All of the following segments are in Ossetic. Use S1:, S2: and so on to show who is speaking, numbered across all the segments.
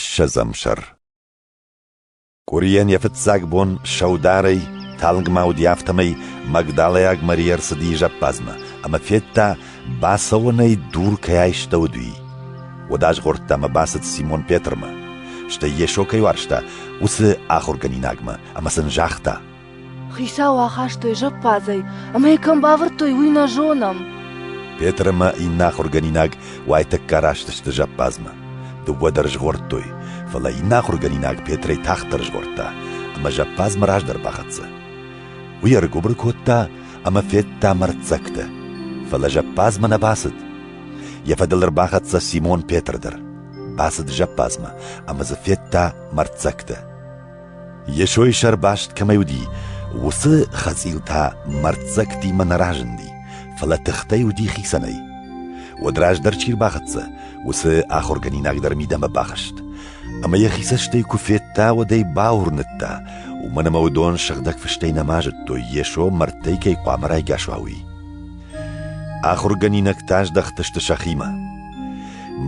S1: Ссӕдзӕм сӕр Къуырийӕн йӕ фыццаг бон сӕударӕй талынгмӕ уыди, афтӕмӕй магдалайаг Мария ӕрцыди зӕппадзмӕ ӕмӕ федта, бацӕуӕнӕй дур кӕй айстӕуыд, уый. Уӕд азгъордта ӕмӕ бацыд Симон Петрмӕ, стӕй Йесо кӕй уарзта, уыцы ахуыргӕнинагмӕ, ӕмӕ сын загъта: Хицау
S2: ахастой зӕппадзӕй, ӕмӕ йӕ кӕм бавӕрдтой, уый нӕ зонӕм. Петр ӕмӕ
S1: иннӕ ахуыргӕнинаг уайтӕккӕ раст сты зӕппадзмӕ. Дыууӕ дӕр згъордтой, фӕлӕ иннӕ ахуыргӕнинаг Петрӕй тагъддӕр згъордта ӕмӕ зӕппадзмӕ раздӕр бахӕццӕ. Уый ӕргуыбыр кодта ӕмӕ федта мӕрддзӕгтӕ, фӕлӕ зӕппадзмӕ нӕ бацыд. Йӕ фӕдыл ӕрбахӕццӕ Симон Петр дӕр. Бацыд зӕппадзмӕ ӕмӕ дзы федта мӕрддзӕгтӕ. Йесойы сӕрбаст кӕмӕй уыди, уыцы хӕцъил та мӕрддзӕгтимӕ нӕ разынди, фӕлӕ тыхтӕй уыди хицӕнӕй. Уӕд раздӕр чи рбахӕццӕ, уыцы ахуыргӕнинаг дӕр мидӕмӕ бахызт. Ӕмӕ йӕхи цӕстӕй куы федта, уӕд ӕй бауырныдта, уымӕн ӕмӕ уыдон сыгъдӕг фыстӕй нӕма зыдтой, Йесо мӕрдтӕй кӕй хъуамӕ райгас уа, уый. Ахуыргӕнинӕгтӕ аздӕхтысты сӕхимӕ.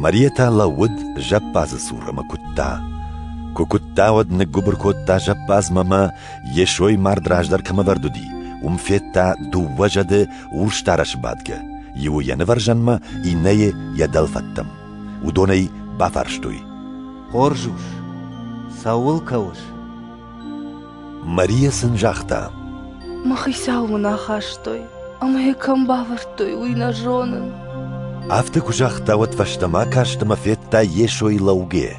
S1: Мариетӕ лӕууыд зӕппадзы цур ӕмӕ куыдта. Куы куыдта, уӕд ныггуыбыр кодта зӕппадзмӕ ӕмӕ, йе сой мард раздӕр кӕм ӕвӕрд уыди, уым федта дыууӕ зӕды урсдарӕсы бадгӕ, иуы йӕ нывӕрзӕнмӕ, иннӕйы йӕ дӕлфӕдтӕм. Уыдон ӕй бафарстой. — Хорз
S3: ус, цӕуыл кӕуыс? Мария
S1: сын загъта. Мӕ
S2: хицау мын ахастой, ӕмӕ йӕ кӕм бавӕрдтой, уый нӕ зонын. Афтӕ куы
S1: загъта, уӕд фӕстӕмӕ каст ӕмӕ федта Йесойы лӕугӕ.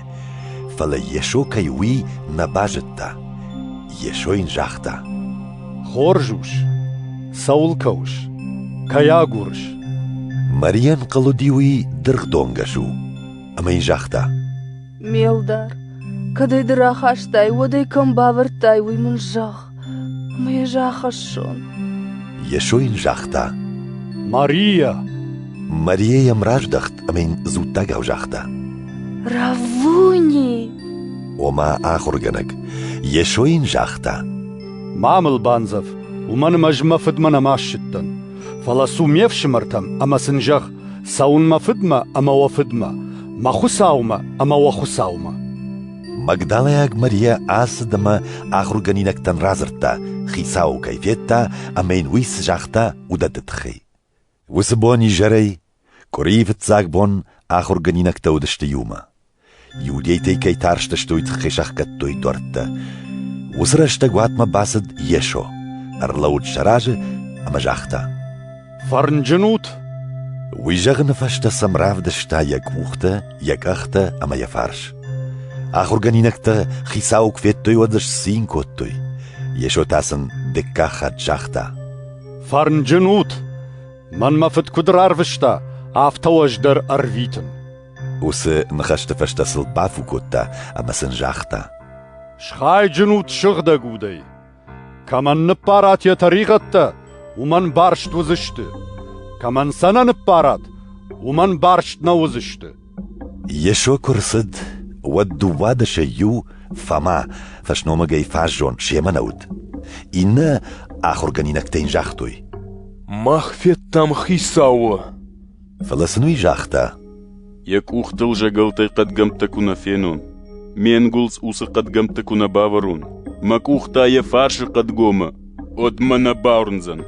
S1: Фӕлӕ Йесо кӕй уый нӕ базыдта. Йесо йын загъта. Хорз
S4: ус, цӕуыл кӕуыс? Кӕй агурыс?
S1: Марийӕн хъыл уыди уый дыргъдонгӕс у, ӕмӕ йын загъта. Ме лдар,
S2: кӕд ӕй ды рахастай, уӕд ӕй кӕм бавӕрдтай, уый мын зӕгъ, ӕмӕ ӕз ахӕссон. Йесо
S1: йын загъта: Мария!
S4: Мария
S1: йӕм раздӕхт ӕмӕ йын дзуттагау загъта: Раввуни!
S2: Ома
S1: ахуыргӕнӕг, Йесо йын загъта: Ма мыл
S4: бандзӕв, уымӕн ӕмӕ ӕз мӕ фыдмӕ нӕма ссыдтӕн. Фӕлӕ цу ме фсымӕртӕм ӕмӕ сын зӕгъ, Цӕуын мӕ фыдмӕ ӕмӕ уӕ фыдмӕ, мӕ Хуыцаумӕ ӕмӕ уӕ Хуыцаумӕ. Магдалайаг
S1: Мария ацыд ӕмӕ ахуыргӕнинӕгтӕн радзырдта, хицауы кӕй федта ӕмӕ йын уый цы загъта, уыдӕтты тыххӕй. Уыцы бон изӕрӕй, къуырийы фыццаг бон, ахуыргӕнинӕгтӕ уыдысты иумӕ. Иудейтӕй кӕй тарстыстой, тыххӕй сӕхгӕдтой дуӕрттӕ. Уыцы рӕстӕг уатмӕ бацыд Йесо, ӕрлӕуд сӕ разы ӕмӕ загъта: «Фӕрнджын
S4: ут!»
S1: Уый зӕгъыны фӕстӕ сӕм равдыста йӕ къухтӕ, йӕ къӕхтӕ ӕмӕ йӕ фарс. Ахуыргӕнинӕгтӕ хицауы куы федтой, уӕд сцин кодтой. Йесо та сын дыккаг хатт загъта: «Фӕрнджын
S4: ут! Мӕнмӕ фыд куыд рарвыста, афтӕ уӕз дӕр ӕрвитын!» Уыцы
S1: ныхӕсты фӕстӕ сыл бафу кодта ӕмӕ сын загъта: «Схайджын
S4: ут сыгъдӕг удӕй! Кӕмӕн ныппарат йӕ тӕригъӕдтӕ, уымӕн барст уыдзысты. Кӕмӕн сӕ нӕ ныппарат, уымӕн барст нӕ уыдзысты». Йесо
S1: куы рцыд, уӕд дыууадӕсӕй иу, Фома, фӕсномыгӕй фаззон, семӕ нӕ уыд. Иннӕ ахуыргӕнинӕгтӕ йын загътой: «Мах
S5: федтам Хицауы!» Фӕлӕ сын
S1: уый загъта: Йӕ къухтыл
S5: зӕгӕлтӕй хъӕдгӕмттӕ куы нӕ фенон, ме нгуылдз уыцы хъӕдгӕмтты куы нӕ бавӕрон, мӕ къух та йӕ фарсы хъӕдгомы уӕдмӕ нӕ бауырндзӕн.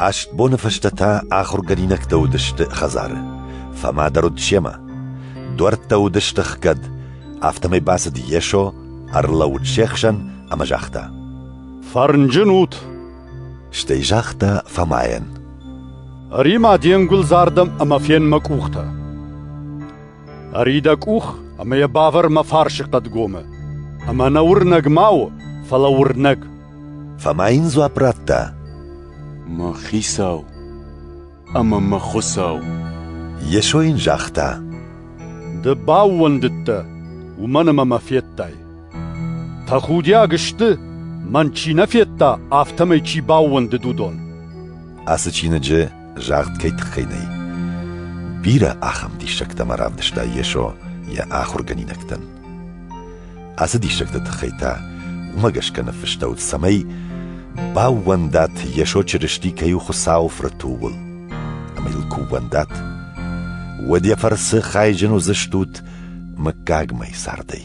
S1: Аст боны фӕстӕ та ахуыргӕнинӕгтӕ уыдысты хӕдзары. Фӕмӕ дӕр уыд семӕ. Дуӕрттӕ уыдысты хгӕд, афтӕмӕй бацыд Йесо, ӕрлӕууыд се хсӕн ӕмӕ загъта: «Фӕрнджын
S4: ут!»
S1: Стӕй загъта Фомайӕн.
S4: Ӕри-ма де нгуылдзардӕм ӕмӕ фен мӕ къухтӕ. Ӕри дӕ къух ӕмӕ йӕ бавӕр мӕ фарсы хъӕдгомы. Ӕмӕ нӕ уырнӕг ма у, фӕлӕ уырнӕг. Фома
S1: йын дзуапп радта. Мӕ
S5: хицау, ӕмӕ мӕ Хуыцау. Йесо
S1: йын загъта: Ды
S4: баууӕндыдтӕ, уымӕн ӕмӕ мӕ федтай. Тӕхудиаг сты, мӕн чи нӕ федта, афтӕмӕй чи баууӕндыд, уыдон. Ацы чиныджы
S1: загъд кӕй тыххӕй нӕй? Бирӕ ахӕм диссӕгтӕ ма равдыста Йесо йӕ ахуыргӕнинӕгтӕн. Ацы диссӕгты тыххӕй та уымӕ гӕсгӕ ныффыстӕуыд, цӕмӕй баууӕндӕт Йесо Чырысти кӕй у Хуыцауы Фырт, ууыл. Ӕмӕ йыл куы ууӕндат, уӕд йӕ фӕрцы хайджын уыдзыстут мыггагмӕ цардӕй.